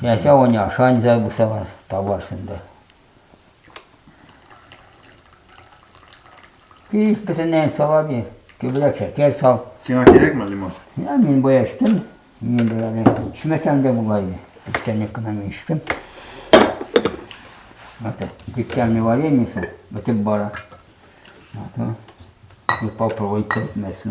Я сегодня шань зай бусалар табарсың да. Пис бөтенләй сала бир. Күбрәк шәкәр сал. Сиңа кирәкме лимон? Я мин бая эчтем. Мин дә әле эчмәсәм дә була иде. Эчтәнек кенә мин эчтем. Вот дегтярный варенье сал, вот бара. Вот, и попробуйте вместе.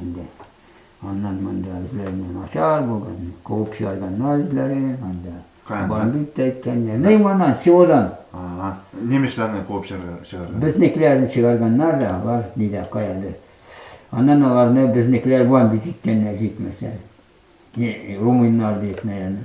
Инде аннан монда үзләренә начар булган, куып чыгарганнар үзләре, анда бандит та әйткәннәр. Ни моннан, селодан. Немецларны куып чыгарганнар. Безнекеләрне чыгарганнар да, алар нидә каядыр. Аннан аларны безнекеләр бандит иткәннәр җитмәсә. Румыннар дип, наверное.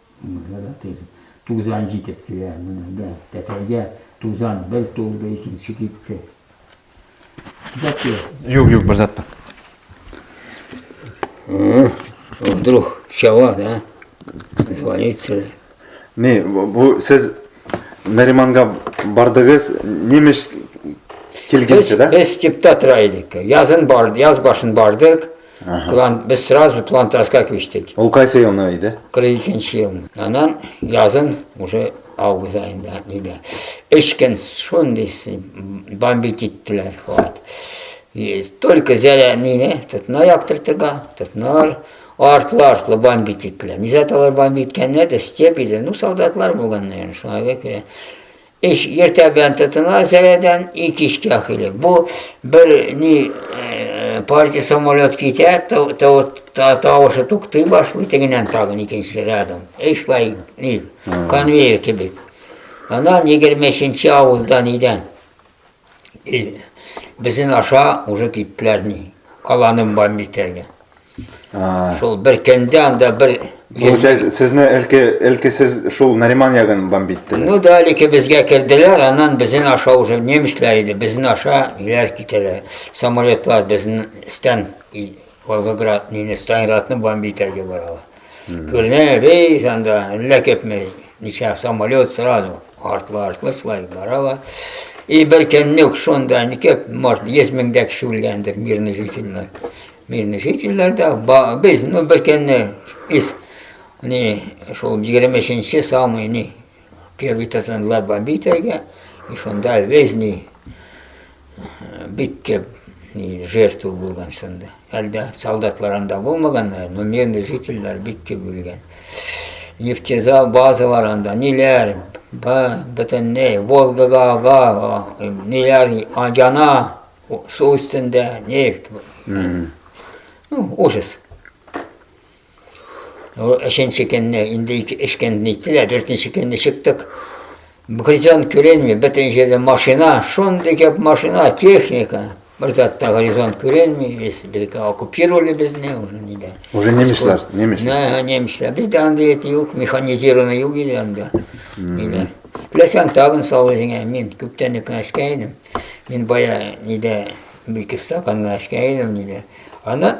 Менә дә тиз тузан җитеп килә. Менә дә тәтәйгә тузан бер тулды, икенче китте. Дәке. Юк, юк, бер зат та. Вдруг чава, да? Звонится. Не, бу сез Нариманга бардыгыз, немеш килгәнче, да? Без типтатра идек. Язын барды, яз башын бардык. Ага. План, без сразу плантаска күчтек. Ул кайсы елны иде? 42 ел. Анан язын уже август айында нидә. Эш көн шундый бомбить иттеләр хат. Только зәрә нине тотна яктыртырга, тотналар артлы-артлы бомбить иттеләр. Низә талар бомбить иткәннәр дә, степ иде. Ну, солдатлар булган, наверное, шуңа күрә. Эш иртә белән тотына зәрәдән и кичкә хиле. Бу бер ни э, партия самолет китә, тавышы туктый башлый, тегеннән тагын икенче рядом. Эшлай ни конвейер кебек. Анан 23 авылдан идән. И, безен аша уже киттеләр ни, каланы бомбить итәргә. Шул бер кәндә анда бер Получается, сезне әлки әлки сез шул Нариман ягын бомбитте. Ну да, әлки безгә керделәр, аннан безен аша уже немецләр иде, безен аша иләр китәләр. Самолетлар безен стен Волгоград, нине, Сталинградны бомби итәргә баралар. Күрдем, бей, анда, әллә күпме, ничә самолет сразу, артлы-артлы шулай баралар. И бер көннек шунда, не күп, может, 100 меңдә кеше үлгәндер, мирный жительләр. Мирный жительләр дә, без, ну, бер көнне, из, не, шул 23-нче самый, не, первый татанлар бомби итәргә, и шунда весь, не, бик кеп жертва булган шунда. Әлдә солдатлар анда булмаган, но мирный жительләр бик кеп үлгән. Нефтезал базалар анда, ниләр, бөтенләй Волгага ага, ниләр яна, су өстендә нефть. Ну, ужас. Ул өченче көнне инде өч көн ниттеләр, дүртенче көнне чыктык. Горизонт күренми, бөтен җирдә машина, шундый күп машина, техника. Бер затта горизонт күренми, без безгә оккупировали безне уже нидә. Уже немецлар, немец. Да, немецлар. Бездә андый бит юк, механизированный юк иде анда. Нидә. Теләсәң тагын сал үзеңә, мин күптән үк эшкә идем. Мин бая нидә бик стаканга эшкә идем нидә. Ана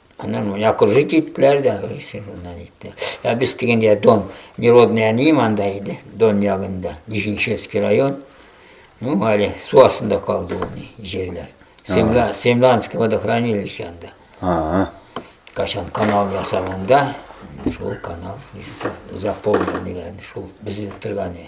Аннан мына кызы киттеләр дә, шуннан итте. Ә без дигәндә Дон, Неродный әнием анда иде, Дон ягында, Нижинчевский район. Ну, әле су астында калды ул ни, җирләр. Семла, Семланский водохранилище анда. Ага. Кашан канал ясаганда, шул канал заполненныйларны, шул безнең торганы.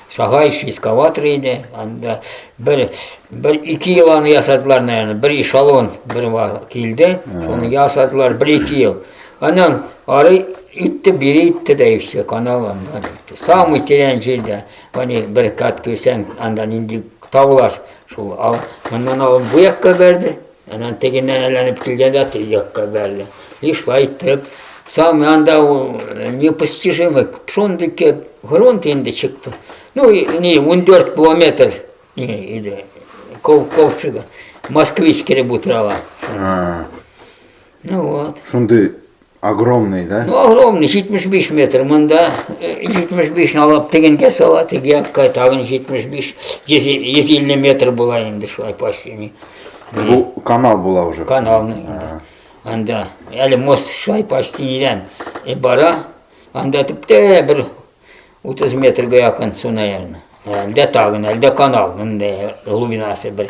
Сагаич эскаватор иде, анда бер бер ике ел аны ясадылар, наверное, бер эшелон бер килде, шуны ясадылар бер ике ел. Аннан ары итте, бери итте дә все, канал анда итте. Самый тирән җирдә, аны бер кат кирсәң, анда нинди табылар, шул ал, моннан алып бу якка бәрде, Анан тегеннән әйләнеп килгән дә теге якка бәрелә. И шулай итеп, саман да ул э, непостижимый, шундый кеп, грунт инде чыкты. Ну, и, не, 14 километр иде, кол, колчыга. Москвич килеп утырала. Ну вот. Шундый Огромный, да? Ну, огромный, 75 метр. Монда 75 алып тегенге сала, теге тагын 75, 150 метр була инде шулай почти. Бу канал була уже. Канал. Анда әле мост шулай почти нидән и бара. Анда типтә бер 30 метрга якын су, наверное. Әлдә тагын, әлдә канал, инде глубинасы бер.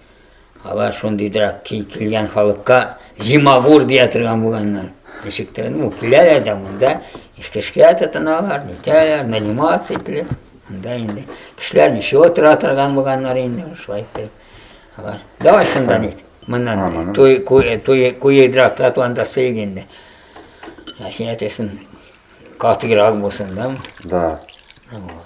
Алар шундыйдырак ки, килгән халыкка зимагур дия торган булганнар. Ничектер, ну, киләләр дә монда, эшкә тотыналар, нитәләр, нанимация ителеп, монда инде. Кешеләр ничего тора торган булганнар инде, шулай итеп. Алар, давай шунда нит, моннан, туй, куй, туй, куйыдрак татуанда сөйг инде. Ә син әйтерсең, катыйрак булсын, да? Да. Вот.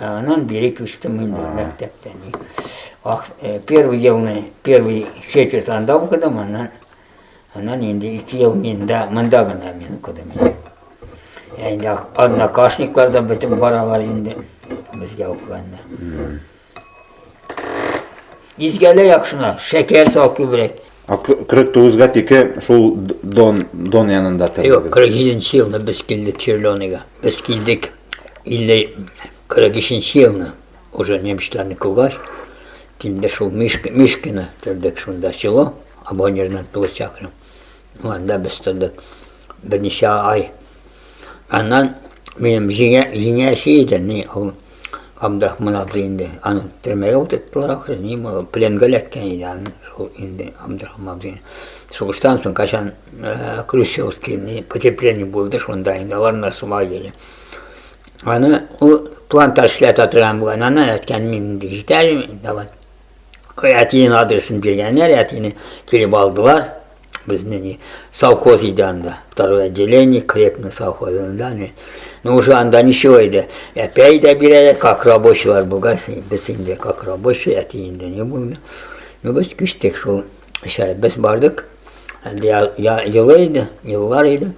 Анан бири күчтем инде мәктәптә. Первый елны, первый четверть анда укыдым, анан анан инде ике ел миндә, монда гына мин укыдым. Инде однокашниклар да бөтен баралар инде безгә укыганнар. Изгәлә яхшына, шәкәр сал күбрәк. Кырык тугызга тике шул Дон, Дон янында торды. Юк, кырык җиденче елны без килдек Черленыйга. Без килдек 43-нче елны, уже немецларны кугач, килде шул Мишка, Мишкина тордык шунда село, Абонердан получакрым. Ну, анда без тордык. Берничә ай Аннан минем җиңә, җиңәче иде, ни, ул Абдрахман атлы инде. Аны төрмәгә утырттылар ахры, ни булды, пленгә эләккән иде аны, шул инде Абдрахман абзый. Сугыштан соң качан э, Крущевский ни потепление булды, шунда инде алар да суга иде. Аны ул плантаж эшләтә торган булган, аны әткән мин инде җитәр, давай. әтинең адресын биргәннәр әтине килеп алдылар безне не совхоз иде анда второе отделение крепный совхозында не ну уже анда ничего иде әпәй дә бирәләр как рабочийлар булгач без инде как рабочий әти инде не булды ну без күчтек шул эшә без бардык әле елы иде еллар иде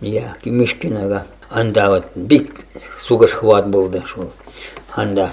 я кимешкинага анда вот бик сугыш хват булды шул анда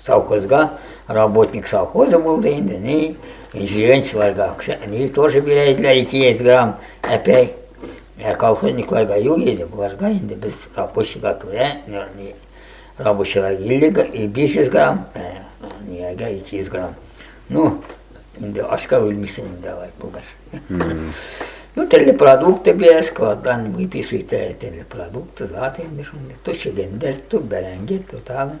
Совхозга работник совхозы булды инде, ни, җиренчеларга акча, ни, тоже бирә иделәр 200 грамм әпәй. Ә колхозникларга юк иде, буларга инде без рабочийга күрә, ни, рабочийлар 50, 500 грамм, нигәгә 200 грамм. Ну, инде ашка үлмисен инде алай булгач. Ну, теле продукты бия, складдан выписывает теле продукты, зат инде шунда. То чегендер, то бәрәңге, то тагын.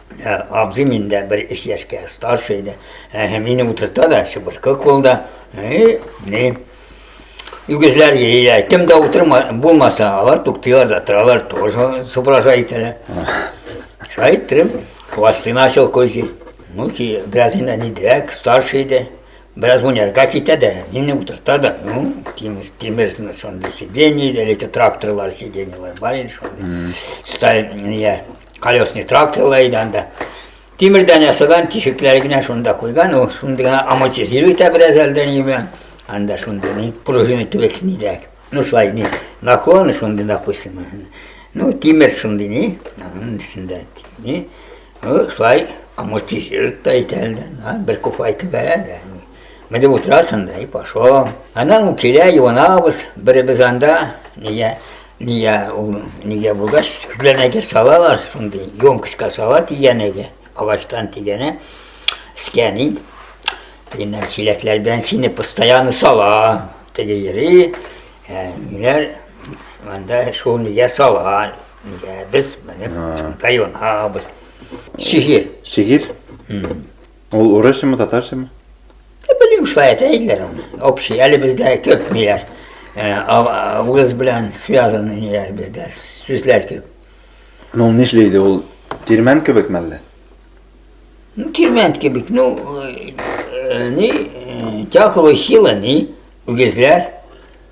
Ә, абзыйм инде бер өч яшькә старше иде. Ә, мине утырта да, чыбыркы кулда. И, не. Үгезләр йөриләр. Кем дә утырма, булмаса, алар туктыйлар да, торалар, тоже супража итәләр. Шулай иттереп, хвосты начал козить. Ну, ки, бераз инде нидерәк, старше иде. Бераз уйнарга китә дә, мине утырта да. Ну, тимер, тимер, шундый сиденье, әлеге тракторлар сиденьелар бар иде, шундый. Сталин, не, колесный тракторлар иде анда. Тимердән ясалган тишекләре генә шунда куйган, ул шунда гына амортизировать итә бераз әлдән белән. Анда шунда ни пружина төбәк нидәк. Ну шулай ни наклоны шунда да куйсын. Ну тимер шунда ни, аның өстендә ни. Ну шулай амортизировать итә әлдән, бер куфайка бәрә. Менә дип утырасын да, и пошел. Анан килә, юанабыз, беребез анда, нигә, нигә ул, нигә булгач, сүзләрнәгә салалар, шундый емкостька сала тигәнәгә, агачтан тигәнә, скәни. Дигәннән чиләкләр белән сине постоянно сала, теге йөри, ә, ниләр, анда шул нигә сала, нигә без менеп, шунда юанабыз. Шигырь. Шигырь? Ул урысчамы, татарчамы? Ә белмим, шулай әйтә иделәр аны. Общий, әле бездә күп ниләр. Э, а- Урыс белән связаны ниләр бездә, сүзләр күп. Ну, ул нишли иде, ул тирмән кебек мәллә? Ну, тирмән кебек, ну, э, э, ни, э, тяхлы сила, ни, үгезләр.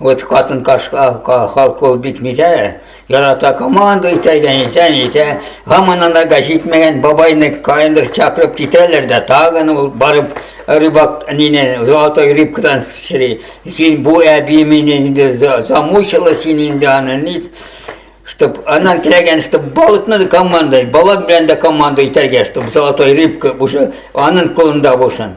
Вот катын кашка халк ул бит нидә ярата команда итәгән итән итә һаман анарга җитмәгән бабайны каяндыр чакырып китәләр дә тагын ул барып рыбак нине золотой рыбкадан чыри син бу әби мине инде замучила син инде аны ни чтоб она теләгән чтоб балыкны команда балык белән дә команда итәргә чтоб золотой рыбка уже аның кулында булсын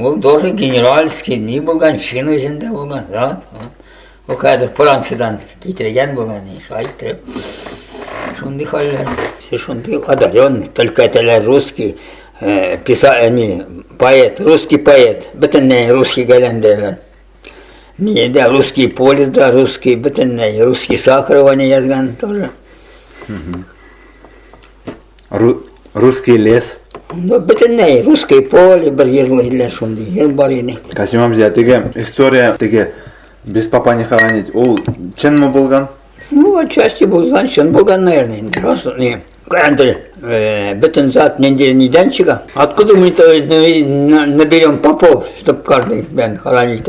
Ул тоже генеральский ни булган, чин үзендә булган, да? Ул кадәр Франциядән китергән булган, шулай итеп. Шундый хәлләр, шундый одаренный, только теләр русский, э, писа, э, не, поэт, русский поэт, бөтенләй русский гәләндерелгән. Ни, да, русский поле, да, русский, бөтенләй русский Сахарова не язган тоже. Ру, русский лес. Ну, бөтенләй, русский поле бер җырлый иделәр шундый, җыр бар иде. Касим абзый, теге история, теге без папа не хоронить, ул чынмы булган? Ну, отчасти булган, чын булган, наверное, инде, раз, не. Әнде, э, бөтен зат нинди нидән чыга? Откуда мы это э, наберем попов, чтобы каждый бен хоронить?